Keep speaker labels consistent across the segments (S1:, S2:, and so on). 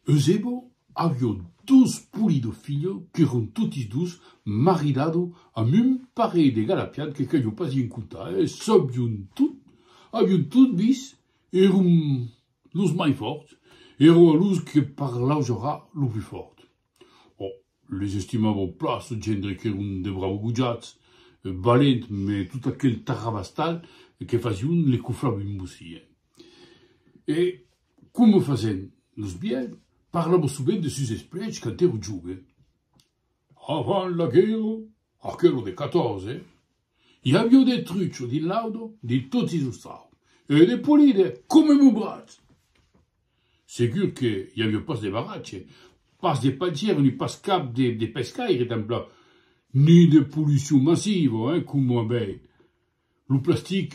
S1: Eusebio avió dos poli de filhs qu'èron totis dos maridats amb un parelh de galapians que calió pas en contar, e sabion tot, avion tot vis, èron los mai fòrts, èron los que parlaujavan lo plus fòrt. Les estimava plan ce gendre qu'èron de braus gojats, valent, mès tot aquel tarrabastal que fasión les coflavi embosien. E coma fasèn los vielhs, parlava sovent de sus esplèchs quand èra joven. Avant la guèrra, aquela de 14, i avió de trucho dins l'audo de totis los sauts e de polide coma mon bratz! Segur que i aviá pas de baratge, pas de pajèr ni pas cap de pescaire tanplan, ni de polucion massiva, eh, coma a veir. Lo plastic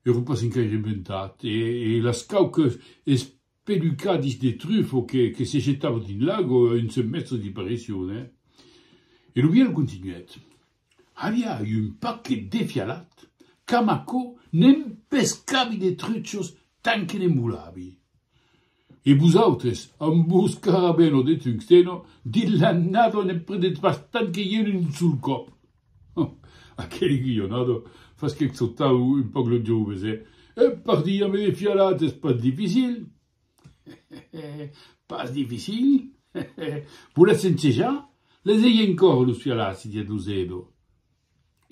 S1: èra pas encaire inventat e las cauques espelucadis de trufa que se jetava dins l'agua un semèstre d'i parecion, eh. E lo vièlh continuèt. Aviá un paquet defialat qu'amb aquò ne'n pescavi de truchos tant que ne'n volavi. E vosautres, amb vos carabeno de tungsteno, dins la nado ne'n prenètz bastant que ieu d'un sol còp. Hum! Aquel guionado fasquèc sautar un pauc lo jove, se, Ep, partir ambe defialat es pas dificil. Pas dificil, voletz ensejar? Les ei encòr los fialaci, didec lo Zedo.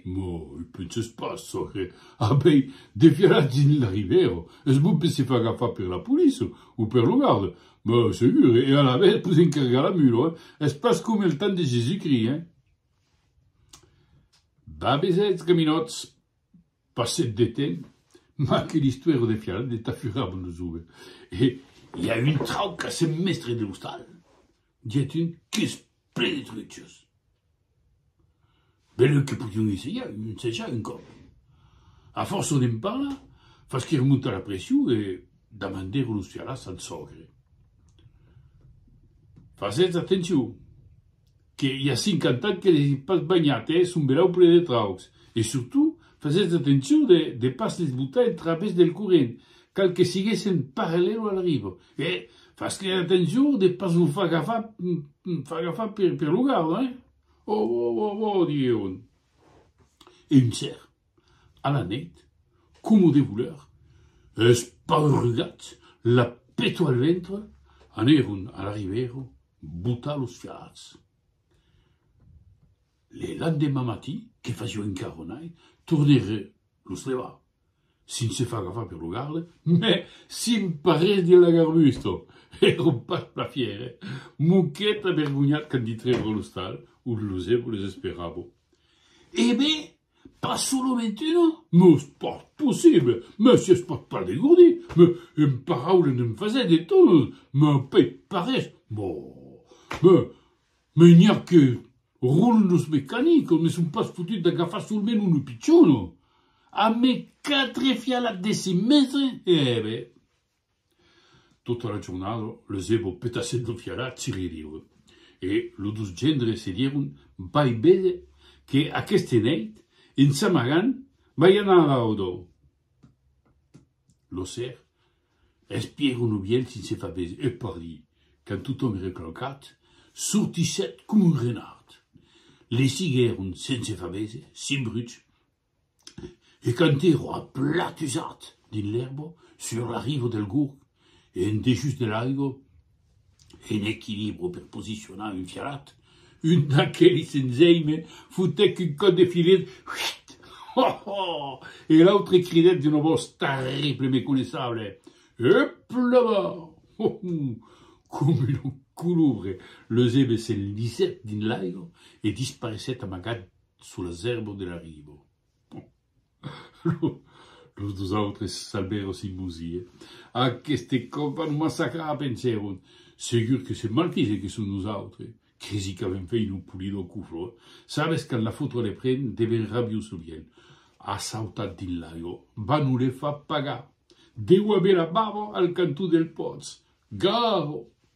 S1: Mò, u penses pas, çò que avei de fialaci dins la ribèra es bon per se far agafar per la poliça o per lo garda, mò segur, e alavetz pus encargar la mula, eh? Es pas coma el temps de Jésus-Christ, eh? Babesets gaminòts, Passèt de temps, mas que l'Istuèro de Fiarat ne tafuravan lo jove, e i a un trauc qu'a sent mèstre de l'ostal, diguèt un qu'es plen de truchos. Benlèu que podion ensejar, ensejar un còp. A fòrça d'en parlar, fas que remontar la pression e damandèron los Fiarats al sògre, Fasètz atencion! que i a 50 ans que les ai pas banhat e son belau ple de traucs. E surtout, fasètz atencion de de pas les botar en través del corrent, cal que siguessen parallèlo al ribo. E fas-les atencion de pas lo far agafar far agafar per per lo garda, hein! Oh, oh, oh, oh, diguèron. E un cèrp. A la nèit, coma de volèr, es paurugats, la peto al ventre, anèron a la ribèra botar los fialhats. Le landemà matin, que fasiá encara nai, tornèron los levar, s'i'n se far agafar per lo garde, mès s'i'n parèt de la garbusta, èran pas plan fièrs, eh! Moquèt avergonhat quand ditrèron a l'ostal, ont los èboles esperàvon. E ben! Pas solament una? Mos pas possible! Mès si es pas pas de Gordi, me en paraule ne'n fasèt de tonas, me pei parés, mò! Me, me n'i a que roulent los mecanicos, me son pas fotut d'agafar solament una pichona! A me quatre fialat de cinc mètres, e ben. Tota la jornada, lo zebo petassèt lo fiarat si ririue, e lo dos gendre se dieron, Vai béder que aqueste nèit, en s'amagant, vai anar a la audo! Lo ser espièron lo vielh sense far béser, e pardi, quand totòm ère claucat, sortissèt com un renard. L'esiguèron sense far béser, sin bruch, e quand ero aplatusat dins l'èrba sur la riva del Gurg e en dejús de l'aiga, en equilibra per posicionar un fialat, un d'aquelis enzei me fotec un còp de filet, huiit! Hohoo! e l'autre cridèt d'una vos terrible me coneissable, Hup là-bas! Hohoo! Coma una colubra, l'eusèbe s'enlisèt dins l'aiga e dispareissèt amagat Sous la zerbo de la ribo. Los dos autres s'albèron sin bosir. Aqueste còp a nos massacrar, pensèron. Segur que se maltisen que son nosautres. Cresi qu'avèm fait lo polidor cuflor. Sabes quand la fotra le pren, deven rabiós lo vièlh. A sautat dins l'aigo. Bah nos le fa pagar. Deu aver la bava al cantó del pòts. Garo!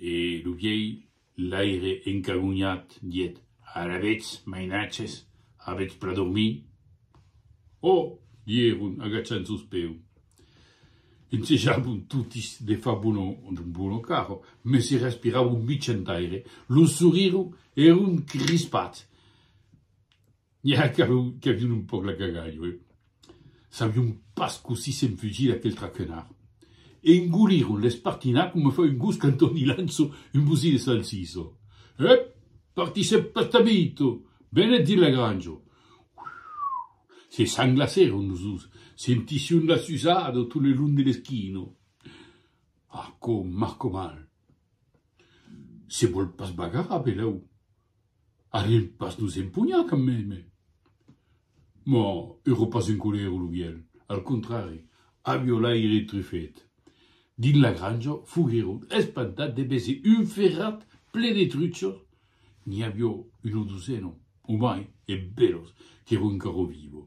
S1: E lo vièlh laire encagonhat dièt, Ara vetz, mainatges, avetz pra dormir? Ò! dieron, agachant sos peus. E nse javon totis de far bono d'un bono caro, mès i respiravon mitjan aire, los sorires èron crispats. Ja qu'avion un pòc la gaga, jo e sabion pas cossí s'enfugir d'aquel traquenard. Engoliron l'espartinat coma fa un gos quand on li lança un bosí de salsissa. Ep! Partissèm pas tabito! Benèt dins la granja! Se sanglacèron los dos, sentission la susada tot le long de l'esquina. Arcò, Marcò mal! Se vòl pas bagarar, velèu? Ariel pas nos empunhar quand meme! Mò, euro pas en colèra lo vièlh, al contrari, a violaire Truffet. Dins la granja foguèron espantats de veser un ferrat plen de truchos, n'i avió una dosena o mai, e bèlos, qu'èron encara vivos.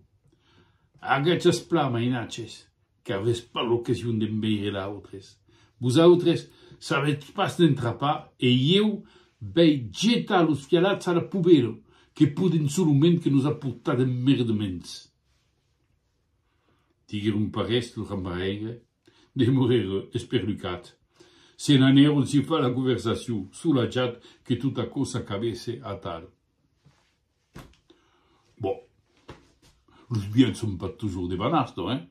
S1: Agachasplà, mainatges! Qu'avètz pas l'occasion d'en veire d'autres. Vosautres savètz pas n'en trapar e ieu vei jetar los fialats a la poubèla, que poden solament que nos aportar d'emmerdaments. Diguèron parés lo cambaraire, demorèreu esperlucat. Se n'anèron sifar la conversacion, solatjat que tot aquò s'acabèsse atal. Bon, los biens son pas tusjor de Banastò, hein?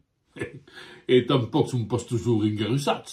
S1: E tanpòc son pas tusjor engarusats.